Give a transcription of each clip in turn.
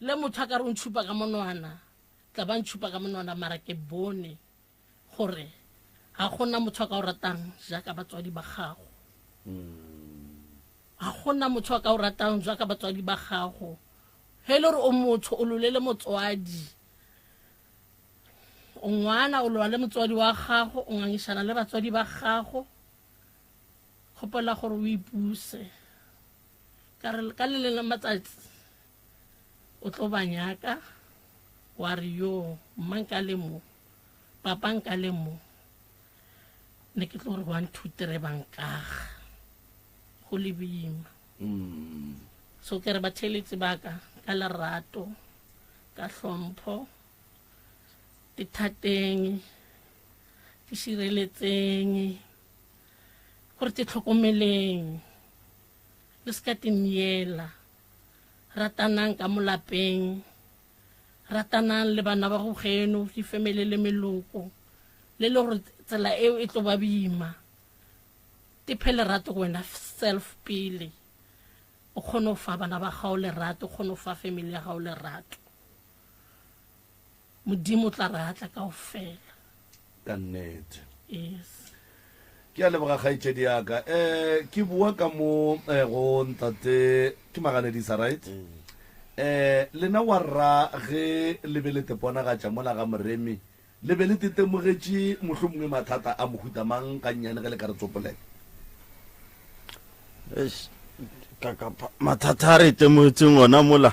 Le motho a ka re o ntšhupa ka monwana, tla ba ntšhupa ka monwana, mara ke bone gore ga gona motho a ka o ratang jaaka batswadi ba gago. Ga gona motho a ka o ratang jaaka batswadi ba gago. Ge e le gore o motho o lolele motswadi, o ngwana o lola le motswadi wa gago, o ngangišana le batswadi ba gago, kgopela gore o ipuse. Ka re, Ka le leng la matsatsi o tlo ba nyaka, wa re, Yo, mma nka le mo, papa nka le mo, ne ke tlo re one two three ba nkaga go le bima. Mm. So ke re batheeletsi ba ka ka lerato, ka hlompho, ke thateng, ke šireletseng, O re tihlokomeleng, le se ka timyela. Ratanang ka mo lapeng. Ratanang le bana ba go geno, difemele le meloko. Le le gore tsela eo e tlo ba bima. Tiphe lerato go wena self pele. O kgone go fa bana ba gago lerato, o kgone go fa femele ya gago lerato. Modimo o tla re atla kaofela. Ka nnete. Yes. Ke a leboga kgaetšedi ya ka. Eh, ke bua ka mo eh, go ntate ke maganedisa right? Mm. Eh, lena wa rra ge le be le teponagatša mola ga moremi le be le tetemogetše mohlho mongwe mathata a mohuta mang ka nnyane ge le ka re tsopolela? mathata a re itemogetseng ona mola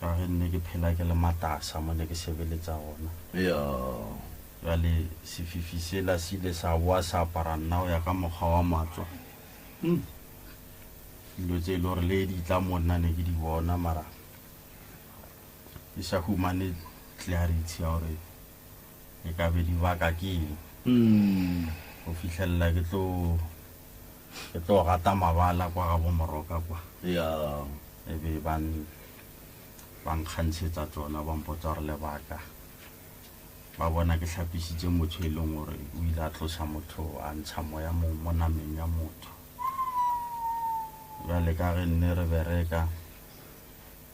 ka ge nne ke phela ke le matasa mo ne ke sebeletsa gona. Bjale sefifi sela se ile sa boa sa apara nna go ya ka mokgwa wa matswa. Dilo tse e le gore le di tla mo nna ne ke di bona mara ke sa humane clarity ya gore e ka be di baka ke eng go fihlelela ke tlo ke tlo gata mabala kwa ga bomoroka kwa ya e be ba ba nkgantshetsa tsona ba mpotsa gore lebaka ba bona ke hlapisitse motho e leng gore o ile a tlosa motho a ntsha moya mo mo nameng ya motho jale ka ge nne re bereka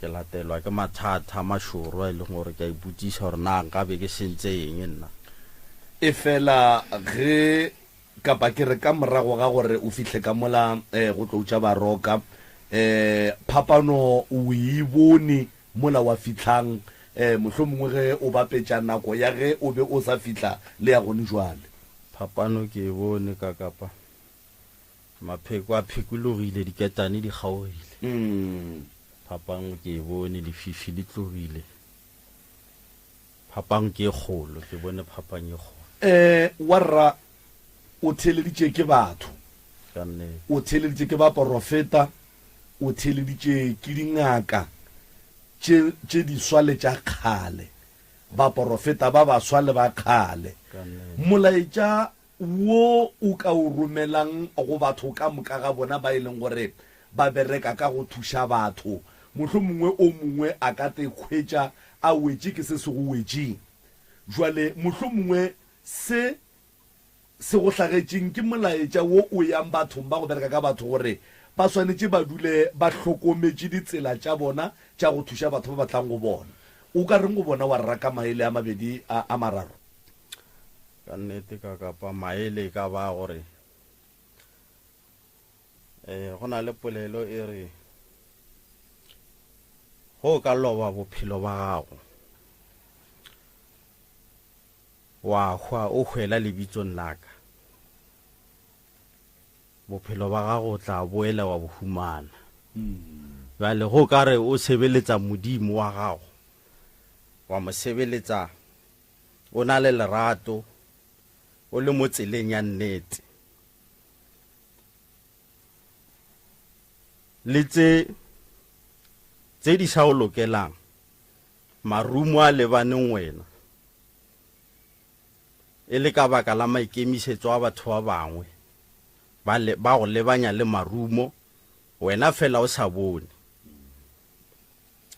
Ke latelwa ke mathata a mašoro a e leng gore ke a ipotšiša gore na nka be ke sentse eng nna. Efela ge, kapa ke re ka morago ga gore o fihle ka mola go tlo tša baroka, phapano o e bone mola wa fihlang, mohlomongwe ge o bapetša nako ya ge o be o sa fihla le ya gone bjale? Phapano ke e bone, ka kapa. Mapheko a phekologile, diketane di kgaogile. Phapang ke e bone, lefifi le tlogile. Phapang ke e kgolo, ke bone phapang e kgolo. Ee, warra, o theeleditše ke batho. Ka nnete. O theeleditše ke baporofeta, o theeleditše ke dingaka tše, tše diswa le tša kgale, baporofeta ba baswa le ba kgale. Ka nnete. Molaetša wo o ka o romelang go batho ka moka ga bona ba e leng gore ba bereka ka go thuša batho. Mohlomongwe o mongwe a ka te hwetša a wetše ke se se go wetšeng. Bjale, mohlomongwe se se go hlagetšeng ke molaetša wo o yang bathong ba go bereka ka batho gore ba swanetše ba dule ba hlokometše ditsela tša bona tša go thuša batho ba ba tlang go bona. O ka reng go bona wa raka maele a mabedi a a mararo? Ka nnete ka kapa maele e ka ba gore eh go na le polelo e re go ka loba bophelo ba gago wa hwa o hwela lebitsong la ka bophelo ba gago o tla boela wa bo humana bjale go ka re o sebeletsa modimo wa gago wa mo sebeletsa o na le lerato, o le mo tseleng ya nnete. Le tse tse di sa o lokelang, marumo a lebaneng wena, e le ka baka la maikemisetso a batho ba bangwe, ba le ba go lebanya le marumo, wena fela o sa bone.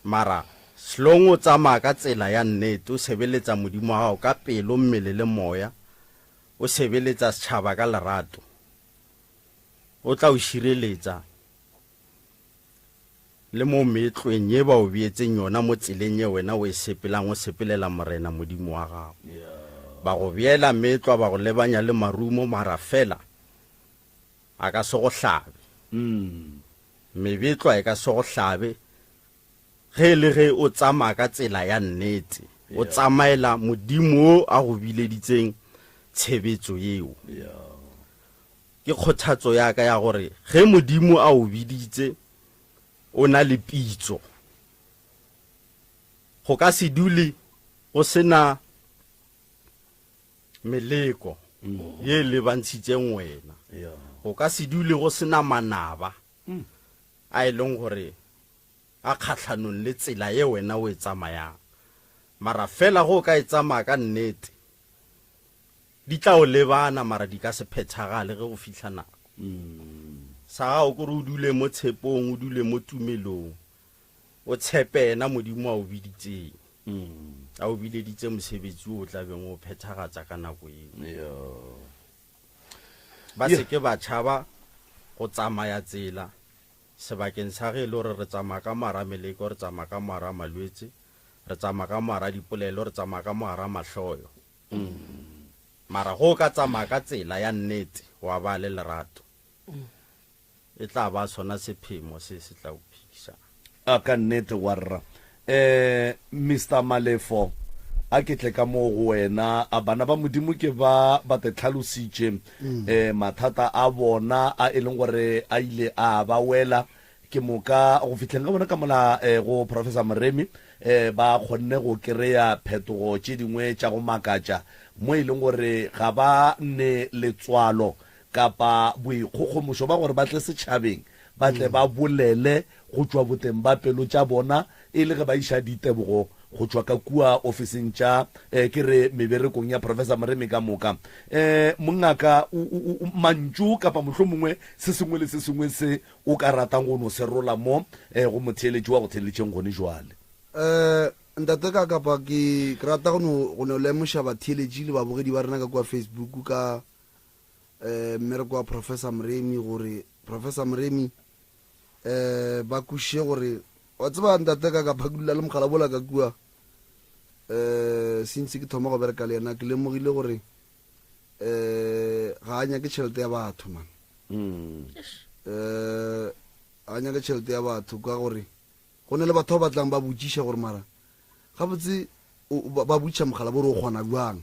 Mara, hlong o tsamaya ka tsela ya nnete, o sebeletsa Modimo wa gago ka pelo, mmele le moya, o sebeletsa setšhaba ka lerato, O tla o šireletsa le mo meetlweng ye ba o beetseng yona mo tseleng ye wena o e sepelang o sepelela Morena Modimo wa gago. Ba go beela meetlwa, ba go lebanya le marumo, mara feela A ka se go hlabe. Mebetlwa e ka se go hlabe ge e le ge o tsamaya ka tsela ya nnete, o tsamaela Modimo yo a go bileditseng tshebetso yeo. Ke kgothatso ya ka ya gore ge Modimo a o biditse, o na le pitso. Go ka se dule go se na. Meleko ye e lebantshitseng wena. Go ka se dule go sena manaba a e leng gore a kgatlhanong le tsela ye wena o e tsamayang. Mara fela go o ka e tsamaya ka nnete, di tla o lebana mara di ka se phethagale ge go fihla nako. Sa gago kore o dule mo tshepong, o dule mo tumelong, O tshepe yena Modimo a o biditseng. A o bileditse mosebetsi wo o tla beng o phethagatsa ka nako yeo. Ba se ke ba tšhaba go tsamaya tsela, sebakeng sa ge e le gore re tsamaya ka mogara meleko, re tsamaya ka mogara malwetse, re tsamaya ka mogara dipolelo, re tsamaya ka mogara mahloyo. Mara ge o ka tsamaya ka tsela ya nnete, wa ba le lerato, e tla ba sona sephemo se se tla o phedišago. A ka nnete, warra. Um, Mister Malefo, a ke tle ka moo go wena. A bana ba Modimo ke ba ba te tlhalositše um mathata a bona a e leng gore a ile a ba wela ke moka go fihleng ga bona ka mola um go Professor Moremi um ba kgonne go kry-a phetogo tše dingwe tša go makatša mo e leng gore ga ba ne letswalo kapa boikgogomošo ba gore ba tle setšhabeng, ba tle ba bolele go tšwa boteng ba pelo tša bona e le ge ba iša ditebogo go tšwa ka kua ofising tša, eh, ke re meberekong ya Professor Moremi ka moka. Eh, mongaka, u, u, u, mantšu kapa mohlomongwe se sengwe le se sengwe se o ka ratang go no se rola mo, eh, go motheeletši wa go theeletšeng gone bjale? Eh, Ntate ka kapa ke, ke rata go no, go no lemoša batheeletši le babogedi ba rena ka kua Facebook ka, eh, mmereko wa Professor Moremi, gore Professor Moremi eh, ba kwišiše gore wa tseba ntate ka ka phakulela le mogala bola ka kua eh, since ke thoma go bereka le yena ke lemogile gore eh, ga a nyake tšhelete ya batho man Mm. eh a nyaka tšhelete ya batho ka gore go ne le batho ba batlang ba botšiša gore mara gabotse o- ba ba botšiša mogala bo re o kgona bjang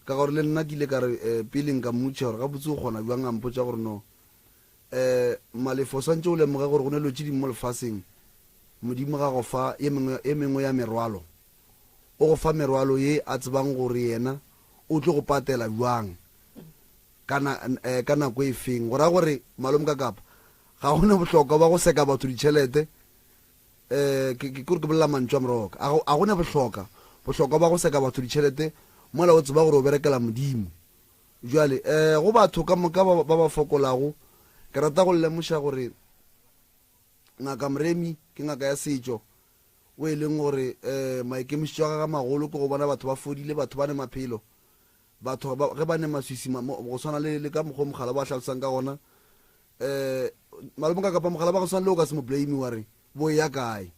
Ka gore le nna ke ile ka re, eh, pele nka mmotšiša gore gabotse o kgona bjang, a mpotša gore, No. Eh, Malefo, o swantše o lemoge gore go na le dilo tše dingwe mo lefaseng Modimo ga go fa ye mengwe, ye mengwe ya merwalo. O go fa merwalo ye a tsebang gore Yena o tlo go patela bjang, ka na, eh, ka nako e feng. Go ra gore, Malomkakapa, ga go na bohlokwa bja go seka batho ditšhelete, Ke ke gore ke bolela mantšu a moroka a go a gona bohloka bohlokwa ba go seka batho ditšhelete mola o tseba gore o berekela Modimo. Bjale go batho ka moka ba ba ba fokolago ke rata go le lemoša gore Ngaka Mremi ke ngaka ya setšo o e leng gore maikemišetšo a gagwe a magolo ke go bona batho ba fodile, batho ba ne maphelo. Batho ba, ge ba ne maswisi ma, mo, go swana le, le ka mokgwa o mogala bo a hlalosang ka gona, um, malome ka kapa mogala ba go swana le o ka se mo blame wa re, bo eya kae?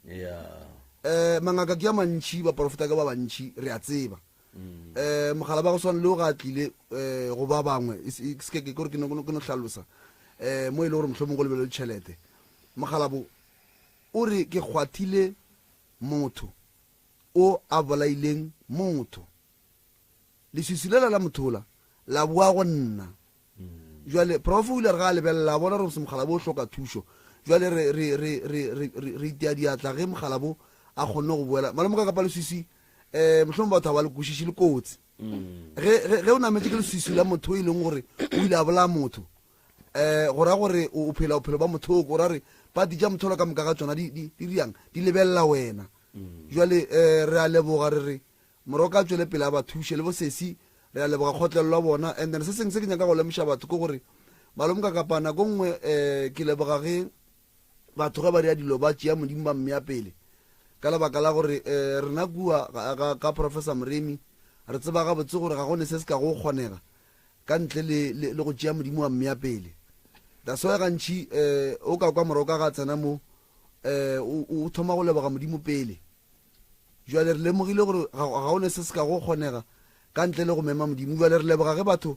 Um, mangaka ke a mantši, baporofeta ke ba bantši, re a tseba. Um, mogala ba go swana le o ga a tlile, um, go ba bangwe, e se, ke se ke, kore ke no, ke no hlalosa, um, mo e le gore mohlomong go lebelelwe tšhelete. Mogala bo, o re, ke kgwathile motho o a bolaileng motho. leswiswi lela la mothola la boa go nna jale prof o ile a re ga a lebelela a bona gore mokgalabo o hloka thušo jale re itea diatla ge mokgalabo a kgonne go boela malome ka kapa leswiswi um eh, mohlomong batho ga ba le kwešiši le kotsi mm. ge o nametse ke leswiswi la motho e leng gore o ile a bolaya motho um go ra gore o phela bophelo ba mothoko o ra re pati ja mothola ka moka ga tsona di riang di lebelela wena mm. jale um re a leboga re re Moroka a tšwele pele a ba thuše. Le bo sesi re a leboga kgotlelo ya bona. And then se sengwe se ke nyaka go lemoša batho ke gore Malome Kakapa nako nngwe um ke leboga ge batho ge ba dira dilo ba tšea Modimo ba mmea pele ka lebaka la gore um rena kua ka ka Professor Moremi re tseba gabotse gore ga go ne se se ka go kgonega ka ntle le le go tšea Modimo wa mmea pele. That's why gantši um o ka kwa Moroka ga tsena mo um o thoma go leboga Modimo pele Bjale re lemogile gore ga, ga go ne se se ka go kgonega ka ntle le go mema Modimo. Bjale re leboga ge batho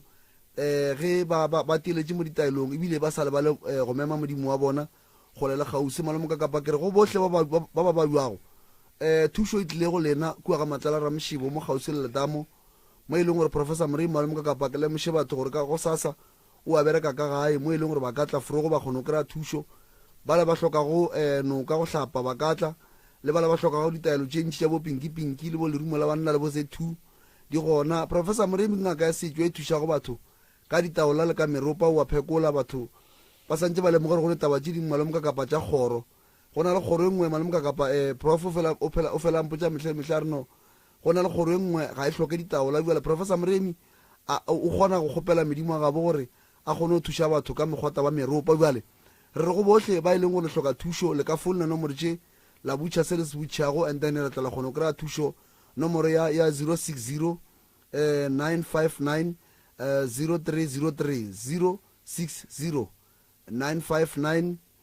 um ge ba, ba, ba teletše mo ditaelong ebile ba sa lebale um go mema Modimo wa bona kgole le kgauswi. Malomokakapa, ke re go bohle ba ba, ba, ba ba bjwago, um thušo e tlile go lena kua ga Matlala Ramošebo mo kgauswi le letamo, mo e leng gore Professor Morei Malomokakapa ke lemoše batho gore ka gosasa o a bereka ka gae mo e leng gore ba ka tla fro go ba kgona go kry-a thušo. Bala ba hlokago um noka go hlapa ba ka tla, le bala ba hlokago ditaelo tše ntši tša bo pinki pinki le bo lerumo la banna le bo Z two di gona. Professor Moremi ke ngaka ya setšo e thušago batho ka ditaola le ka meropa, o a phekola batho ba santše ba lemoga gore go le taba tše dingwe malome kakapa tša kgoro. Go na le kgoro e nngwe malome kakapa um prof o fela o phela o fela a mpotša mehla le mehla a re no Go na le kgoro e nngwe, ga e hloke ditaola. Bjale, Professor Moremi, a, o kgona go kgopela Modimo wa gabo gore a kgone go thuša batho ka mekgwata wa meropa. Bjale, re re go bohle ba e leng gore le hloka thušo, le ka founela nomoro tše, la butšha se le se butšhago, and then re tla la kgona go kry-a thušo, nomoro ya, ya 060 959 0303, 060 959.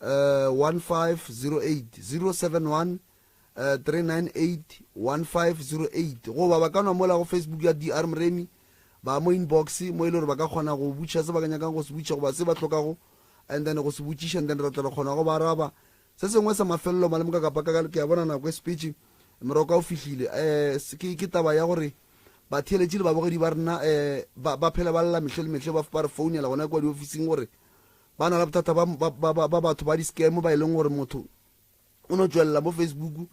15080713981508 goba ba ka nwa mola go Facebook ya DR Mremi ba mo inbox mo e le gore ba ka kgona go butšha se ba ka nyakang go se butšha goba se ba hlokago and then go se botšiša and then re tla re kgona go ba araba se sengwe sa mafelelo malemo ka kapa ka ke a bona nako e sepetše moroka o fihlile um ke taba ya gore batheeletši le babogedi ba rena um ba phela ba lela mehle le mehle ba re founela gona kwa diofising gore Ba na le bothata ba, ba, ba, ba, ba batho ba di-scam ba e leng gore motho o no tšwelela mo Facebook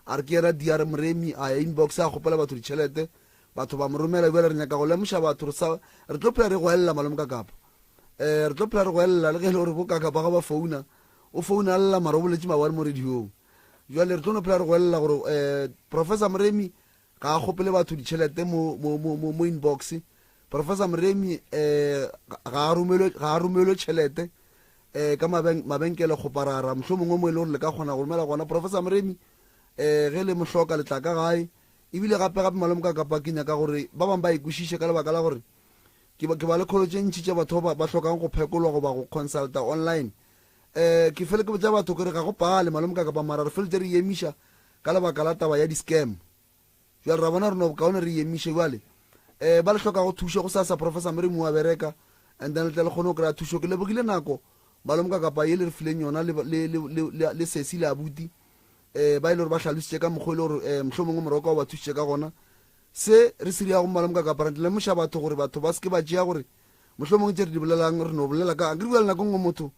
a re ke yena DR Moremi, a ya inbox a kgopela batho ditšhelete, batho ba mo romela. Bjale re nyaka go lemoša batho re sa, re tlo phela re go elela Malome Kakapa. Eh, re tlo phela re go elela le ge e le gore bo Kakapa ga ba founa, o founa lla mara o boletše mabane mo radio-ng. Bjale re tlo no phela re go elela gore eh, Professor Moremi Ga a kgopele batho ditšhelete mo, mo, mo, mo, mo inbox. Professor Moremi um ga a romelwe, ga a romelwe tšhelete um ka maben, mabenkele go parara. Mohlomongwe mo e le gore le ka kgona go romela gona. Professor Moremi um ge le mo hloka le tla ka gae. Ebile gape gape malome ka kapa ke nyaka gore ba bangwe ba e kwešiše ka lebaka la gore ke ba, ke ba le kholo tše ntši tša batho ba, ba hlokang go phekolwa goba go consulta online. Um ke fele ke botša batho ke re ga go pale malome ka kapa mara re feletše re e emiša ka lebaka la taba ya di scam jwale ra bona re no bokaone re emiše jwale eh ba le hlokago thušo go sa sa professor mere mo wa bereka and then le tle le kgone go kry-a thušo ke lebogile nako ba lomka kapa ye le re fileng yona le le le le le sesi le abuti eh ba ile e gore ba hlalositse ka mokgwa e le gore eh mohlho mongwe moroko wa ba thušitse ka gona se re se riyago mo ba lomka kapa re tle le moša batho gore batho ba se ke ba tšea gore mohlho mongwe tše re di bolelang re no bolela ka akere bjale nako nngwe motho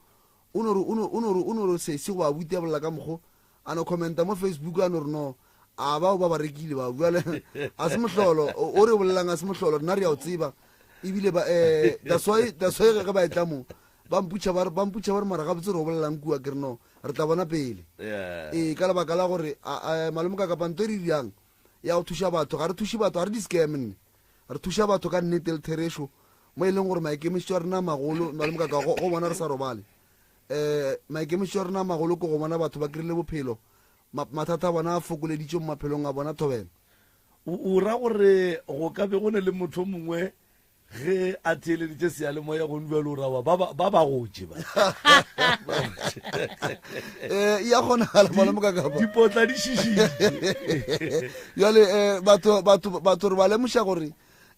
O no re, o no, o no re, o no re, se, se go a butia bolela ka mokgo. A no commenta mo Facebook, a no re, no, a bao ba ba rekile bao. Bjale, a se mohlolo. O, o re o bolelang, a se mohlolo. Rena re a o tseba. Ebile ba, eh, that's why, that's why ge, ge ba etla mo, ba mputša ba re, ba mputša ba re, mara gabotse re o bolela'ng kua? Ke re, no, re tla bona pele. Yeah. Ee, ka lebaka la gore, a, a, malome Kakapa, nto e re e dirang, ya go thuša batho. Ga re thuše batho, ga re di-scam nne. Re thuša batho ka nnete le therešo, mo e leng gore maikemišetšo a rena a magolo, nna le mokaka go, go bona re sa robale. E, maikemišetšo a rena a magolo ke go bona batho ba krile bophelo, ma, mathata a bona a fokoleditšwe mo maphelong a bona, thobela. O, o ra gore go ka be go na le motho o mongwe ge a theeleditše seyalemoya gong bjalo, o ra wa, ba, ba, ba ba gotše ba. E, e a kgonagala, malome mokaka ba. Dipotla di šišitšwe. Bjale eh, batho, batho, batho re ba lemoša gore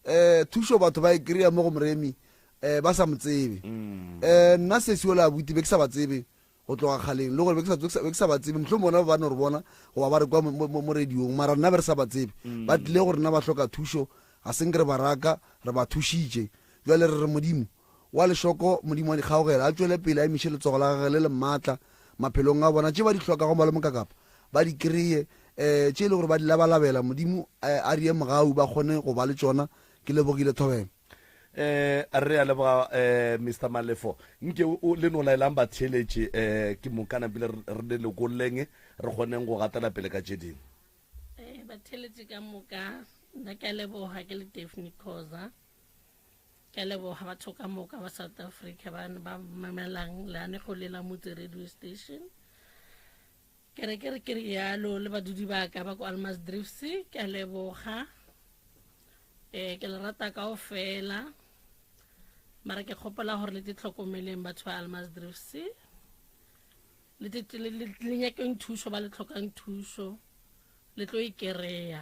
eh, thušo batho ba e kry-a mo go moremi eh, ba sa mo tsebe mm. eh, nna sesio le abuti be ke sa ba tsebe go tloga kgaleng le gore be ke sa ba tsebe motlho bona ba no re bona goba ba re kwa mo radiong mara nna be re sa ba tsebe mm. ba tlile gore nna ba hloka thušo ga seng ke re baraka re ba thušitše jale re re modimo wa lešoko, Modimo wa dikgaogelo a tšwele pele a emiše letsogo la Gagwe le le maatla maphelong a bona. Tše ba di hlokago ba le mokakapa ba di kreye, um tše e le gore ba di labalabela, Modimo a di ye mogau ba kgone go ba le tšona. Ke lebogile thobela. Um, re a leboga um Mister Malefo. Nke o, le no laelang batheeletši um ke moka na pele re le lokolleng re kgoneng go gatela pele ka tše dingwe. Um, batheeletši ka moka, nna ke a leboga, ke le Daphne Khoza. Ke a leboga batho ka moka ba South Africa ba ba mamelang leanego le la motse radio station. Ke re ke re ke rialo le badudi ba ka ba ko Almas Drifts ke a leboga. Eh ke le rata kao fela. Mara ke kgopola gore le titlhokomeleng batho ba Almas Drifts. Le le nyakeng thuso ba le tlhokang thuso. Le tlo e kereya.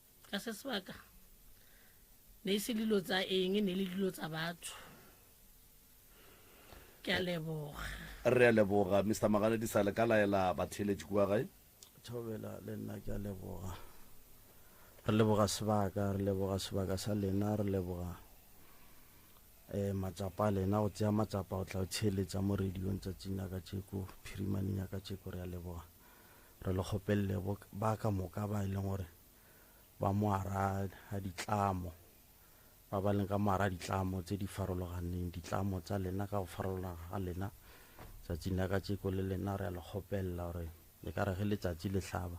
Ka se sebaka, ne e se dilo tsa eng, ne e le dilo tsa batho. Ke a leboga. Re a leboga, Mister Magaledisa. Le ka laela batheeletši kua gae. Thobela, le nna ke a leboga. Re leboga sebaka, re leboga sebaka sa lena, re leboga um matsapa a lena, go tsea matsapa go tla go theeletša mo radio-ng tsatsing la katšeko, phirimaneng ya katšeko. Re a leboga. Re le kgopelele ba ka moka ba e leng gore ba moara a ditlamo, ba ba leng ka moara a ditlamo tse di farologaneng, ditlamo tsa lena ka go farologana ga lena, tsatsing la ka tšeko le lena re a le kgopelela gore e ka re ge letsatsi le hlaba,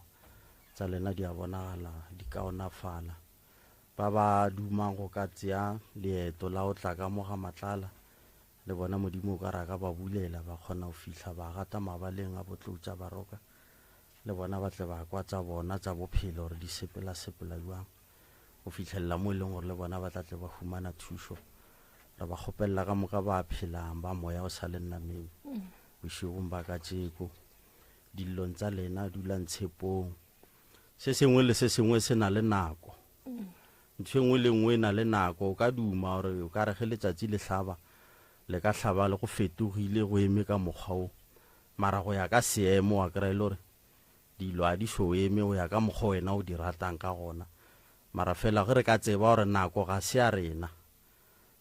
tsa lena di a bonagala di kaonafala. Ba ba dumang go ka tsea leeto la go tla ka mo ga Matlala, Le bona Modimo o ka re a ka ba bulela, ba kgona go fihla ba gata mabaleng a botlotša ba roka, le bona ba tle ba kwa tsa bona tsa bophelo gore di sepela-sepela bjang, go fihlelela mo e leng gore le bona ba tla tle ba humana thušo. Re ba kgopelela ka moka ba phelang, ba moya o sa le nameng, bošegong ba katšeko, dillong tsa lena, dulang tshepong. Se sengwe le se sengwe se na le nako. Ntho e nngwe le nngwe e na le nako. O ka duma gore o ka re ge letšatši le hlaba, le ka hlaba le go fetogile, go eme ka mokgwa wo. Mara go ya ka seemo, wa kry-a e le gore dilo ga di so eme go ya ka mokgwa wena o di ratang ka gona. Mara fela ge re ka tseba gore nako ga se ya rena,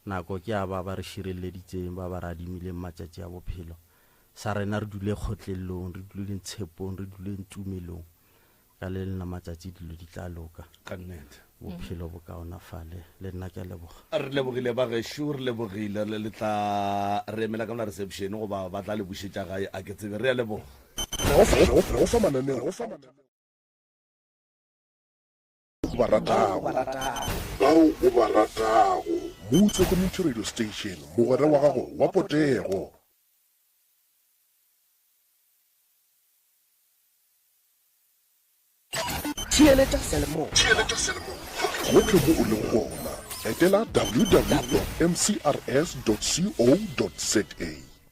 nako ke ya ba ba re širelleditseng, ba ba re adimileng matšatši a bophelo. Sa rena re dule kgotlellong, re duleng tshepong, re duleng tumelong. Ka le lena matšatši dilo di tla loka. Ka nnete. Bophelo bo kaonafale. Le nna ke a leboga. Re lebogile ba gešo, re lebogile. Le tla re emela ka mona reception goba ba tla le bušetša gae a ke tsebe. Re a leboga. Re go fa mananeo. o ba ratago. Bao o ba ratago. Mo o hlokometše radio station, mogwera wa gago wa potego. Theeletša seyalemoya. Gohle mo o lego gona, etela www.mcrs.co.za.